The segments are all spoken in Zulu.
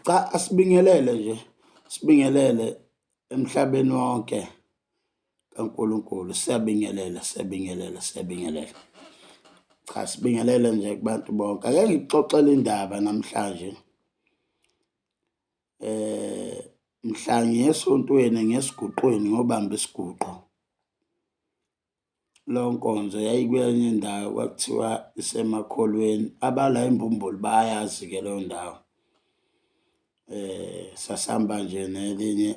Cha asibingelele nje, sibingelele emhlabeni wonke kaNkulunkulu. Siyabingelela, siyabingelela, siyabingelela. Cha sibingelele nje kubantu bonke. Ake ngikuxoxele indaba namhlanje. Eh mhla ngiyesontweni ngesiguqweni ngobamba isiguqo. Leyo nkonzo yayikwenye indawo kwakuthiwa iseMakholweni. Abala imbumbulu bayazi-ke leyo ndawo. Sasihamba nje nelinye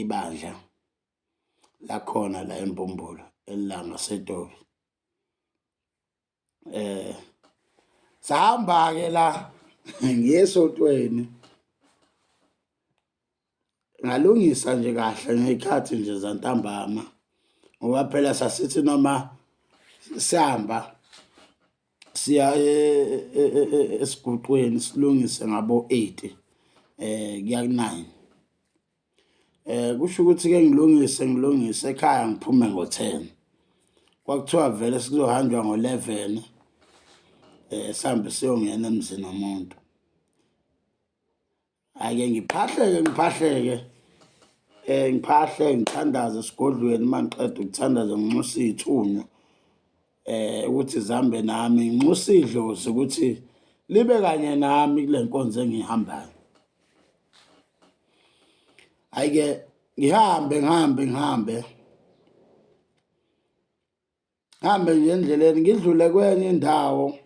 ibandla lakhona la eMbumbulu, elangaseTopi. eh sahamba ke la ngesotweni ngalungisa nje kahle ngekhathi nje zantambama ngoba phela sasithi noma sihamba siya e, e, e, esiguqweni silungise ngabo 8 eh kuya ku 9 Eh kusho ukuthi ke ngilungise ngilungise ekhaya ngiphume ngo-10. Kwakuthiwa vele sikuzohanjwa ngo-11 eh sihambe siyongena emzini womuntu. Ake ngiphahleke ngiphahleke eh ngiphahle ngithandaze esigodlweni mangiqeda ukuthandaza nginxuse izithunywa eh ukuthi zambe nami nginxusa idlozi ukuthi libe kanye nami kule nkonzo engihambayo ayike ngihambe ngihambe ngihambe hambe nje endleleni ngidlule kwenye indawo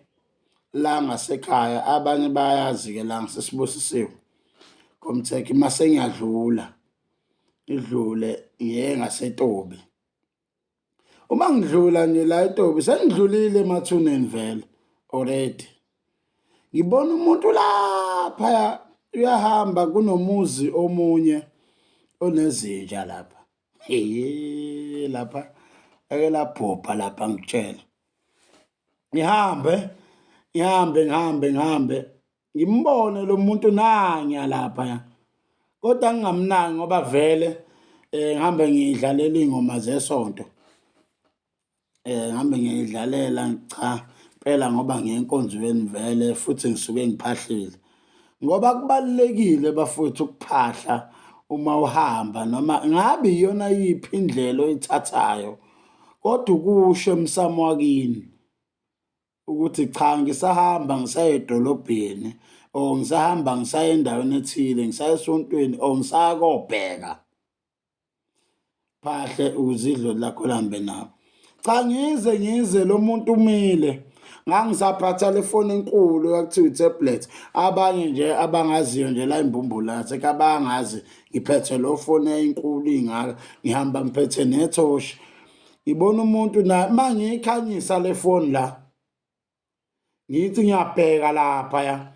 la ngasekhaya abanye bayazi-ke la ngisesibusisiwe komthekhe mase ngiyadlula ngidlule ngiye ngasetobi uma ngidlula nje la etobi sengidlulile emathuneni vele already ngibona umuntu lapha uyahamba kunomuzi omunye onezinja lapha hey lapha ake labhubha lapha ngitshela ngihambe ngihambe ngihambe ngihambe ngimbone lo muntu nanya laphaya kodwa ngingamnaki ngoba vele um ngihambe ngiyidlalela iy'ngoma zesonto um ngihambe ngiyidlalela cha impela ngoba ngiyenkonzweni vele futhi ngisuke ngiphahlile ngoba kubalulekile bafowethu ukuphahla uma uhamba noma ngabe iyona yiphi indlela oyithathayo kodwa ukusho emsamo wakini ukuthi cha ngisahamba ngisaye edolobheni or ngisahamba ngisaye endaweni ethile ngisaye esontweni or ngisaya kobheka phahle uzidlo lakho lambe nabo cha ngize ngize lo muntu umile ngangisaphatha le foni enkulu ekuthiwa i-tablet abanye nje abangaziyo nje la imbumbulathi ekabangazi ngiphethe lo foni eyinkulu ingaka ngihamba ngiphethe nethoshi ngibona umuntu na mangiyikhanyisa le phone la ngithi ngiyabheka lapha ya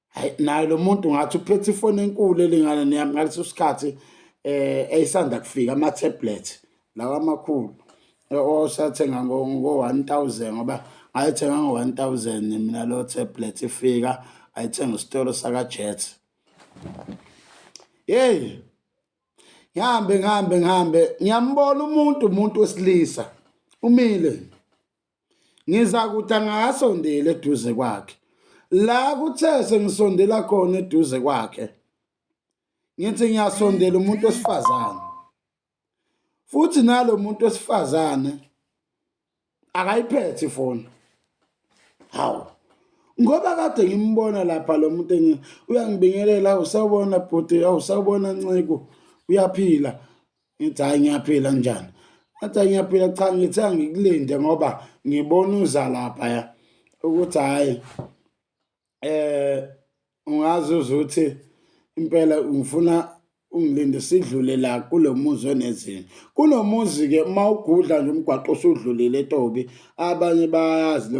hayi naye lo muntu ngathi uphethe ifoni enkulu elingana neyami ngaleso sikhathi eh eyisanda kufika ama tablet lawa amakhulu osathenga ngo 1000 ngoba ayithenga ngo 1000 mina lo tablet ifika ayithenga isitolo saka Jet hey ngihambe ngihambe ngihambe ngiyambona umuntu umuntu wesilisa umile ngiza kuthi angakasondeli eduze kwakhe la kuthe sengisondela khona eduze kwakhe ngithi ngiyasondela umuntu wesifazane futhi nalo muntu wesifazane akayiphethe ifoni hawu ngoba kade ngimbona lapha lo muntu engi uyangibingelela usawubona bhuti awusawubona nciko uyaphila ngithi hayi ngiyaphila njani athi ngiyaphila cha ngithe angikulinde ngoba ngibona uza lapha ya ukuthi hhayi eh ungazi uzuthi impela ngifuna ungilinde sidlule la kulomuzi onezinto kunomuzi ke uma ugudla nje umgwaqo usudlulile etobi abanye bayazi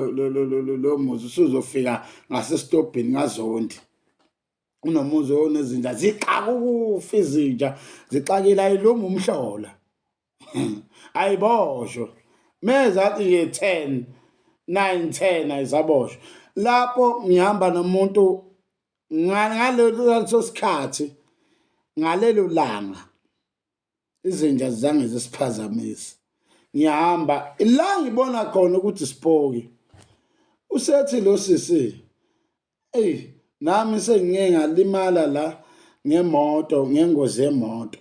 lo muzi usuzofika ngasesitobhini ngazondi unomuzi onezinja zixaka ukufa izinja zixakile ayilungi umhlola ayiboshwe mezathi nje 10 9 10 ayisaboshwe lapho ngihamba nomuntu ngaleso sikhathi ngalelo langa izinja zange zisiphazamisa ngiyahamba la ngibona khona ukuthi sipoki usethi lo sisi Eyi nami sengike ngalimala la ngemoto ngengozi yemoto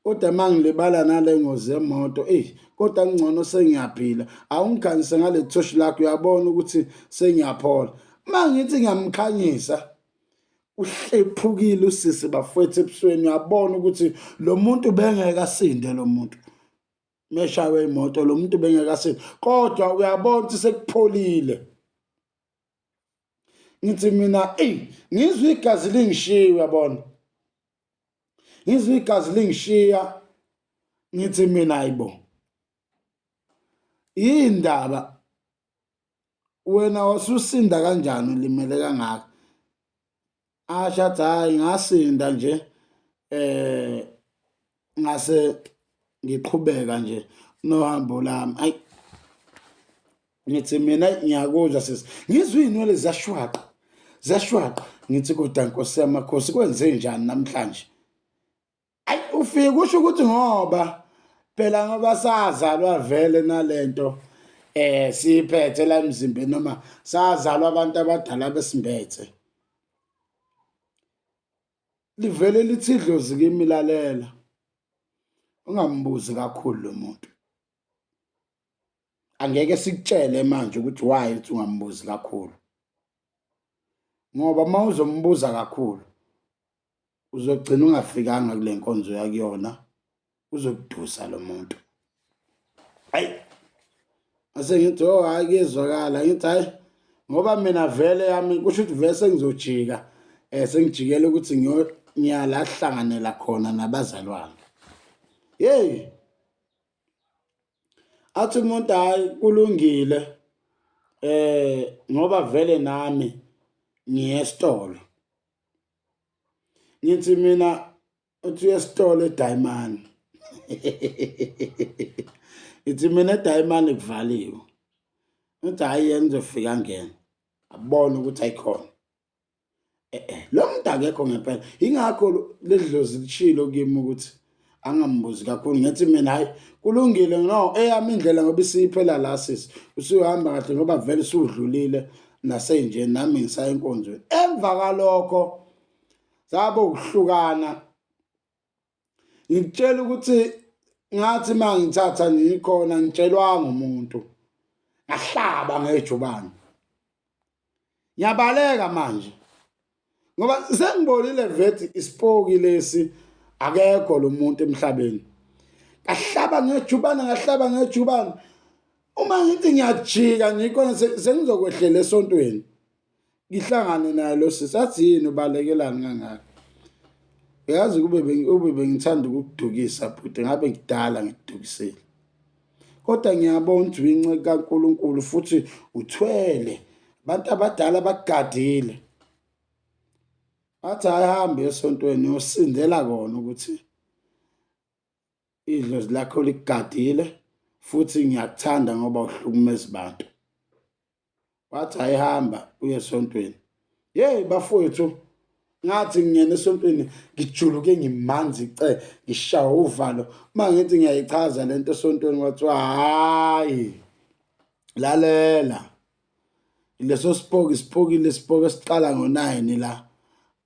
kodwa uma ngilibala nale ngozi yemoto eyi kodwa kungcono sengiyaphila awungikhanyise ngale thoshi lakho uyabona ukuthi sengiyaphola uma ngithi ngiyamkhanyisa uhlephukile usisi bafwethu ebusweni uyabona ukuthi lo muntu bengeke asinde lo muntu meshawe imoto lo muntu bengeke asinde kodwa uyabona ukuthi sekupholile ngithi mina eyi ngizwa igazi lingishiya uyabona ngizwa igazi lingishiya ngithi mina ayibo yindaba wena wasusinda kanjani ulimele kangaka asho athi hhayi ngasinda nje um ngase ngiqhubeka nje nohambo lami ayi ngithi mina ngiyakuzwa sisi ngizwe iy'nwele ziyashwaqa ziyashwaqa ngithi kodwa nkosi yamakhosi kwenze njani namhlanje ayi ufike kusho ukuthi ngoba phela ngoba sazalwa vele nalento eh siphethe la emzimbeni noma sazalwa abantu abadala besimbethe livele lithi idlozi kimi lalela ungambuzi kakhulu lo muntu angeke sikutshele manje ukuthi why uthi ungambuzi kakhulu ngoba uma uzombuza kakhulu uzogcina ungafikanga kule nkonzo yakuyona uzokudusa lo muntu hayi ase ngithi oh hayi kuyezwakala ngithi hayi ngoba mina vele yami kusho ukuthi vele sengizojika um sengijikele ukuthi ngiyala hlanganela khona nabazalwane yeyi athi umuntu hayi kulungile eh ngoba vele nami ngiyesitolo ngithi mina uthi uyesitolo edayimani ithi mina edayimani kuvaliwe uthi hhayi yena uzofika ngena abone ukuthi ayikhona eh, eh, lo muntu akekho ngempela yingakho leli dlozi lishilo kimi ukuthi angambuzi kakhulu ngithi mina hayi kulungile no eyami indlela ngoba isiphela la sisi usuhamba kahle ngoba vele usudlulile nasenje nami ngisaya enkonzweni emva kalokho sabo ukuhlukana ngitshela ukuthi ngathi uma ngithatha ngikhona ngitshelwanga umuntu ngahlaba ngejubane ngiyabaleka manje ngoba sengibonile vethi isipoki lesi akekho lo muntu emhlabeni ngahlaba ngejubane ngahlaba ngejubane uma ngithi ngiyajika nje khona sengizokwehlela esontweni ngihlangane naye lo sisi athi yini ubalekelani kangaka uyazi kube ube bengithanda ukudukisa bhuti ngabe kudala ngidukisile Kodwa ngiyabo uNgcwinci kaNkulunkulu futhi uthwele. Abantu abadala bakugadile. Athi ahambe esontweni uyosindela kona ukuthi idlozi lakho likugadile futhi ngiyakuthanda ngoba uhlukumeza abantu. wathi hayi hamba uye esontweni yeyi bafowethu ngathi ngingena esontweni ngijuluke ngimanzi ce ngishawa uvalo uma ngithi ngiyayichaza le nto esontweni kwathiwa hhayi lalela leso sipoki sipokile isipoki esiqala ngo-nine la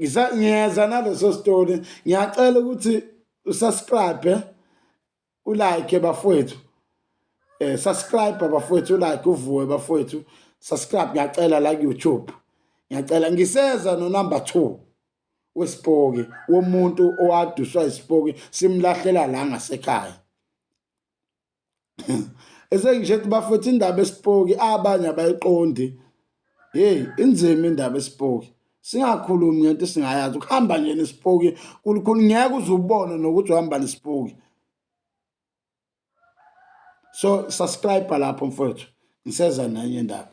ngisa ngiyeza naleso story ngiyacela ukuthi usubscribe ulike bafowethu eh subscribe bafowethu ulike uvuwe bafowethu subscribe ngiyacela la ku-YouTube ngiyacela ngiseza no number 2 wesipoki womuntu owaduswa isipoki simlahlela la ngasekhaya esengisho ukuthi bafethu indaba esipoki abanye abayiqondi yeyi inzima indaba esipoki singakhulumi ngento singayazi ukuhamba nje nesipoki kulukhulu ngeke uze ubone nokuthi uhamba nesipoki so subscribe lapho mfowethu ngiseza nenye indaba